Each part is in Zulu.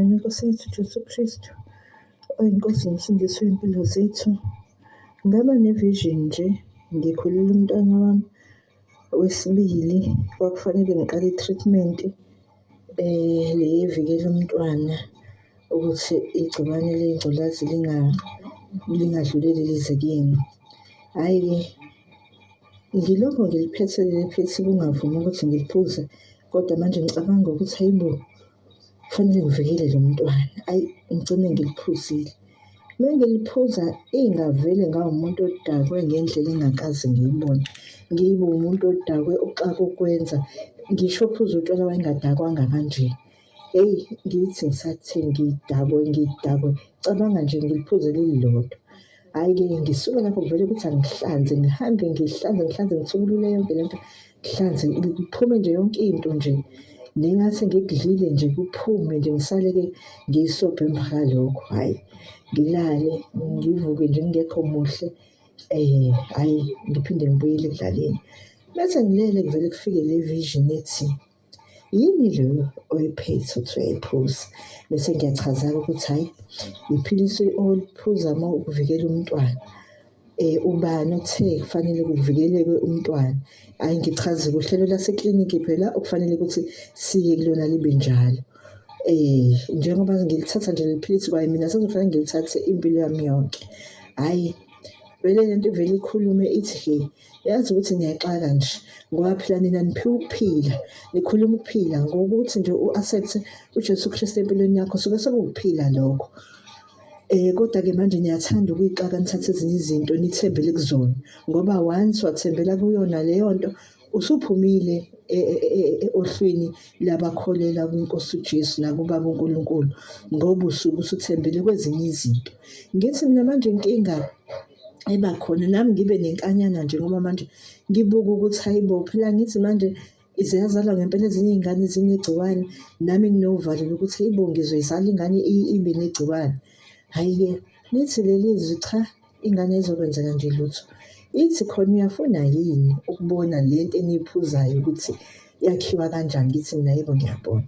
Inkosi yethu Jesu Kristu oyinkosi nomsindisi wey'mpilo zethu. Ngaba ne-vision nje ngikhulele umntwana wami wesibili kwakufanele ngiqale i-treatment eh le evikela umntwana ukuthi igciwane lengculazi lingadluleli lize kuyena. Hhayi-ke ngilokho ngiliphethe leli philisi kungavumi ukuthi ngiliphuze kodwa manje ngicabanga ukuthi hhayi bo kufanele ngivikele lo mntwana ayi ngigcine ngiliphuzile uma ngiliphuza ingavele ngawumuntu odakwe ngendlela engakaze ngiyibone ngibe umuntu odakwe uxaka ukwenza ngisho ophuza utshwala wayengadakwanga kanje eyi ngithi ngisathini ngidakwe ngidakwe cabanga nje ngiliphuze lililodwa hhayi-ke ngisuke lapho ngivele ukuthi angihlanze ngihambe ngihlanze ngihlanze ngithukulule yonke le nto ngihlanze kuphume nje yonke into nje nengathi ngikudlile nje kuphume nje ngisale-ke ngiyisobhe emva kwalokho hhayi ngilale ngivuke nje ngingekho muhle um hhayi ngiphinde ngibuyele ekudlaleni mese ngilele kuvele kufike le vision ethi yini leyo oyiphethe ukuthi uyayiphuza bese ngiyachazela ukuthi hhayi yiphilisi oliphuza uma ukuvikela umntwana eh ubani othe kufanele kuvikeleke umntwana hayi ngichaze kuhlelo lasekliniki phela okufanele ukuthi siye kulona libe njalo eh njengoba ngilithatha nje liphilisi kwaye mina sengifanele ngilithathe impilo yami yonke hayi vele lento vele ikhulume ithi yazi ukuthi niyaxaka nje ngoba phela nina niphiwa ukuphila nikhuluma ukuphila ngokuthi nje u-accept ujesu kristu empilweni yakho suke sekuwukuphila lokho Eh kodwa-ke manje niyathanda ukuyixaka nithathe ezinye izinto nithembele kuzona ngoba once wathembela kuyona leyo nto usuphumile e, e, e, ohlwini labakholela kwiNkosi uJesu nakubaba uNkulunkulu ngoba usuke usuthembele kwezinye izinto ngithi mina manje inkinga eba khona nami ngibe nenkanyana nje ngoba manje ngibuka ukuthi hayibo phela ngithi manje ziyazalwa ngempela ezinye iy'ngane ezinegciwane nami nginovalo lokuthi ibo ngizoyizala ingane ibe negciwane hhayi-ke lithi leli zwi cha ingane ezokwenzeka nje lutho ithi khona uyafuna yini ukubona le nto eniyiphuzayo ukuthi yakhiwa kanjani ngithi mina yebo ngiyabona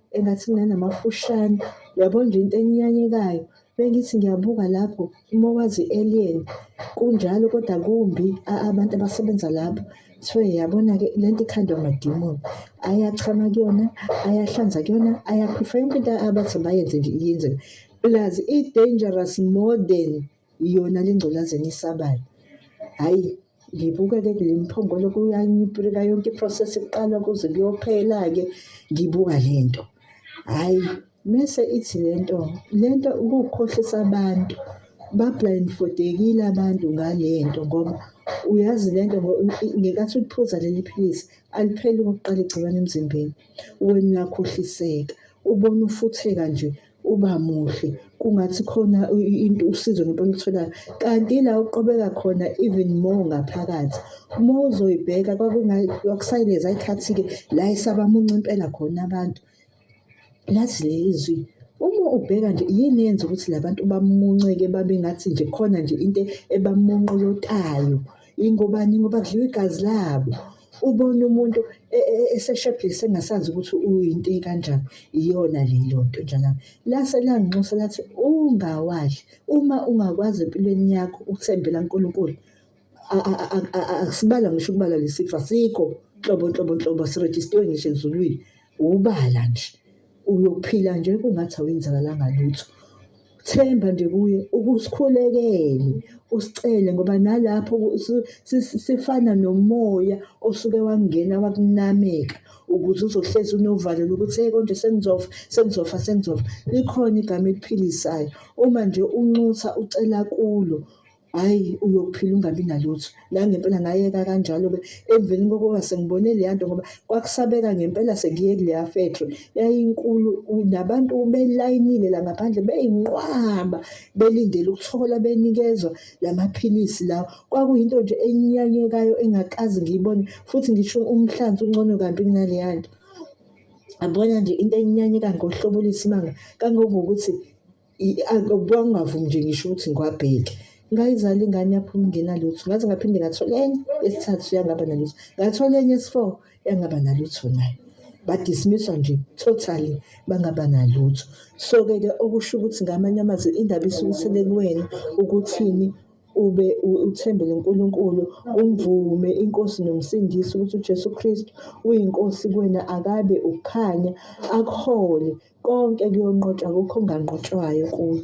engathi nanamafushane yabo nje into enyanyekayo bengithi ngiyabuka lapho uma wazi alien kunjalo kodwa kumbi abantu abasebenza lapho so yabona-ke le nto ikhandwa amadimoni ayachama kuyona ayahlanza kuyona ayaphifa yonke into abathi bayenze nje iyenzeka plus i-dangerous more than iyona le ngculazi enisabayo hhayi ngibuke-ke kule mphongolo kuyanyipuleka yonke iprocess kuqala kuze kuyophela-ke ngibuka le nto hhayi mese ithi le nto le nto ukukhohlisa abantu ba-blindfodekile abantu ngale nto ngoba uyazi le nto ngenkathi uliphuza leli philisi alipheli ukuqala igciwane emzimbeni wena uyakhohliseka ubona ufutheka nje uba muhle kungathi khona into usizo nento olitholayo kanti ila uqobeka khona even more ngaphakathi uma uzoyibheka kwakusayileza ikhathi-ke la esabamunca impela khona abantu lazi leli zwi uma ubheka nje yini yenza ukuthi la bantu bamunceke babe ngathi nje khona nje into ebamunqolotayo ingobani ngoba kudliwa igazi labo ubona umuntu e, e, e, eseshebhise engasazi ukuthi uyinto kanjani iyona leyo nto njalo lase langinxusa lathi ungawadli uma ungakwazi empilweni yakho ukuthembela uNkulunkulu asibala ngisho ukubala lesifo asikho nhlobo nhlobo nhlobo sirejistiwe ngisho ezulwini Ubala nje. Uyophila nje kungathi awenzakalanga lutho. Themba nje kuye ukusikhulekele usicele ngoba nalapho sifana nomoya osuke wangena wakunameka ukuze uzohlezi unovalo lokuthi hey konje sengizofa sengizofa sengizofa likhona igama eliphilisayo uma nje unxusa ucela kulo Hhayi uyophila ungabi nalutho. Nangempela ngayeka kanjalo-ke emveni kokuba sengibone leya nto ngoba kwakusabeka ngempela sengiye kuleya factory. Yayinkulu nabantu belayinile la ngaphandle beyinqwaba belindele ukuthola benikezwa la maphilisi lawa. Kwakuyinto nje enyanyekayo engakaze ngiyibone futhi ngisho umhlanzi ungcono kabi kunaleya nto. Yabona nje into enyanyeka ngohlobo oluyisimanga kangangokuthi kwakungavumi nje ngisho ukuthi ngiwabheke ngayizala ingane yaphuma ingenalutho ngaze ngaphinde ngathola enye esithathu yangaba nalutho ngathola enye esi-four yangaba nalutho nayo badismiswa nje totally bangaba nalutho so-ke ke okusho ukuthi ngamanye amazwi indaba isukisele kuwena ukuthini ube uthembele uNkulunkulu umvume inkosi nomsindisi ukuthi uJesu Kristu uyinkosi kuwena akabe ukukhanya akuhole konke kuyonqotshwa akukho okunganqotshwayo kuye